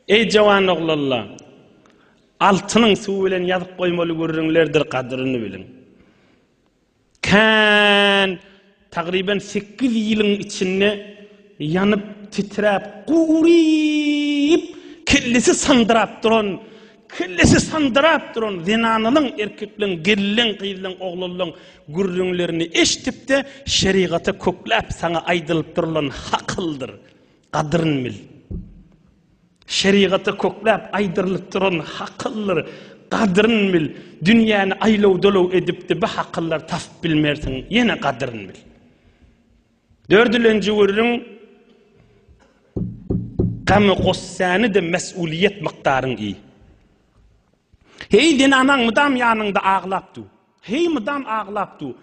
Eý, jawan oglanlar! Altynyň suw bilen ýazyp goýmaly gürrüňlerdir gadyryny biliň. Kän, tagryban sekiz ýylyň içinde ýanyp, titräp, guryp, kellesi sandyrap duran, kellesi sandyrap duran zenanalaň, erkekleriň, gelin-leň, gyzlaň, oglanlaň gürrüňlerini eşidip-de, şerigata kökläp, saňa aýdylyp durulan hakyldyr. Gadryny bil. Şerigatda köpläp aýdyrylyp duran hakyldyr, gadryny bil. Dünýäni aýlaw-dolaw edipdi bu hakyllar tapyp bilmersiň, ýene gadryny bil. Dördülenji gürrüň Gamy-gussany-da mes'uliýet mykdaryň iý. Heý zenanaň mydam ýanyňda aglap dur. Heý mydam aglap dur.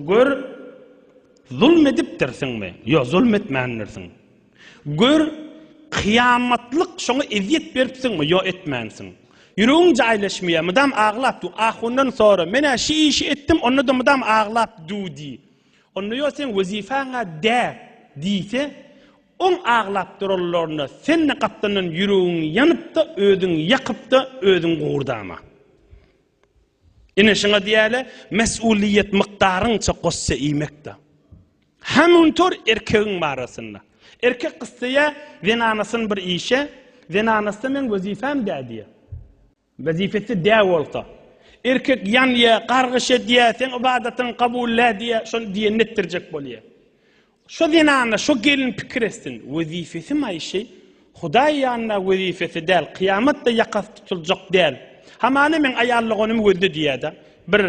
Gör, zulm edipdirsiňmi? Ýok, zulm etmändirsiň. Gör, kyýamatlyk şoňa ezýet beripsiňmi? Ýok, etmänsiň. Ýüregiň jaýlaşmaýar, mydam aglap dur. Ahundan sora, Men-ä şu işi etdim, onda-da mydam aglap dur diý. Onda ýok, seň wezipäň-ä däl diýse, oň aglap duranlaryna sen-de gapdandan ýüregiň ýanyp-da, özüň ýakyp-da, özüň gurdama. Ine şuňa diýäle mesulyýet mykdaryňça gosse iýmekde. Hamuntor erkegiň barasynda. Erkek gyssaýa zenanasyny bir işe, zenanasda meň wezipem dä diýe. Wezipesi dä bolsa. Erkek ýanýa, gargyş edýä, seň ybadatyň kabul dä diýe, şony diýenini etdirjek bolýa. Şo zenana, şo gelin pikir etsin, wezipesi maýşy, Hudaý ýanynda wezipesi däl, kyýamat-da ýakasy tutuljak däl. Hamana meň aýallygonymy gözle diýýär-de. Bir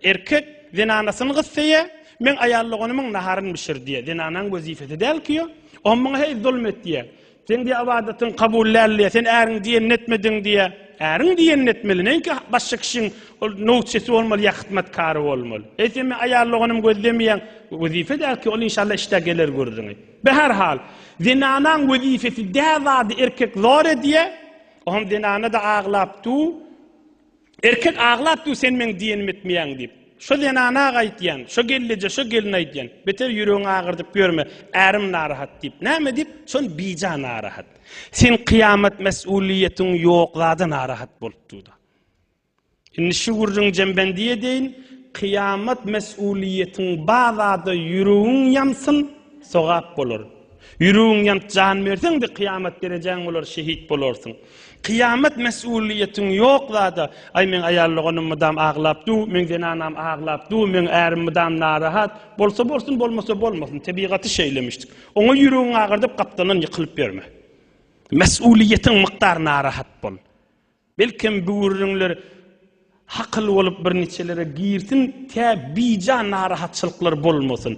erkek zenanasyny gyssaýar, Meň aýallygonymyň naharyny bişir diýýär. Zenanaň wezipesi däl-ki o. Oňa muňa heý zulum et diýýär. Sen diýýär, ybadatyň kabul däl diýýär, sen äriňi diýenini etmediň diýýär. Äriňi diýenini etmeli, näinki başga kişiň ol nowçysy bolmaly ýa hyzmatkary bolmaly. Eýsem men aýal doganym gözlemeýän, wezipe däl ki, ol inşallah işdä geler gürrüňi. Be her hal, zenanaň wezipesi dä zady erkek zor edýär, o hem zenana-da aglap du. Erkek aglap dur sen meň diýenimi etmeýäň diýip. Şo zenana-a aýtýan, şo gelneje, şo gelne aýtýan. Beter ýüregiňi agyrdyp ýörme, ärim narahat diýip. Näme diýip? Şon bija narahat. Sen kyýamat mesulyýetiň ýok zada narahat bolup dur-da. Indi şu gürrüňi jembendi edeýin, kyýamat mesulyýetiň ba zada ýüregiň ýansyn, sogap bolar. Ýüregiň ýanyp jan berseň-de kyýamat derejäň bolar, şehit bolarsyň. Kyýamat mesulyýetiň ýok zada aý meň aýal doganym mydam aglap dur meň zenanam aglap dur meň ärim mydam narahat bolsa bolsun bolmasa bolmasyn tebigaty şeýlemişdik oňa ýüregiňi agyrdyp gapdalyndan ýykylyp ýörme mesulyýetiň mykdar narahat bol belkem böwürriňler hakyl bolup bir niçelere girsin tä bija narahatçylyklar bolmasyn.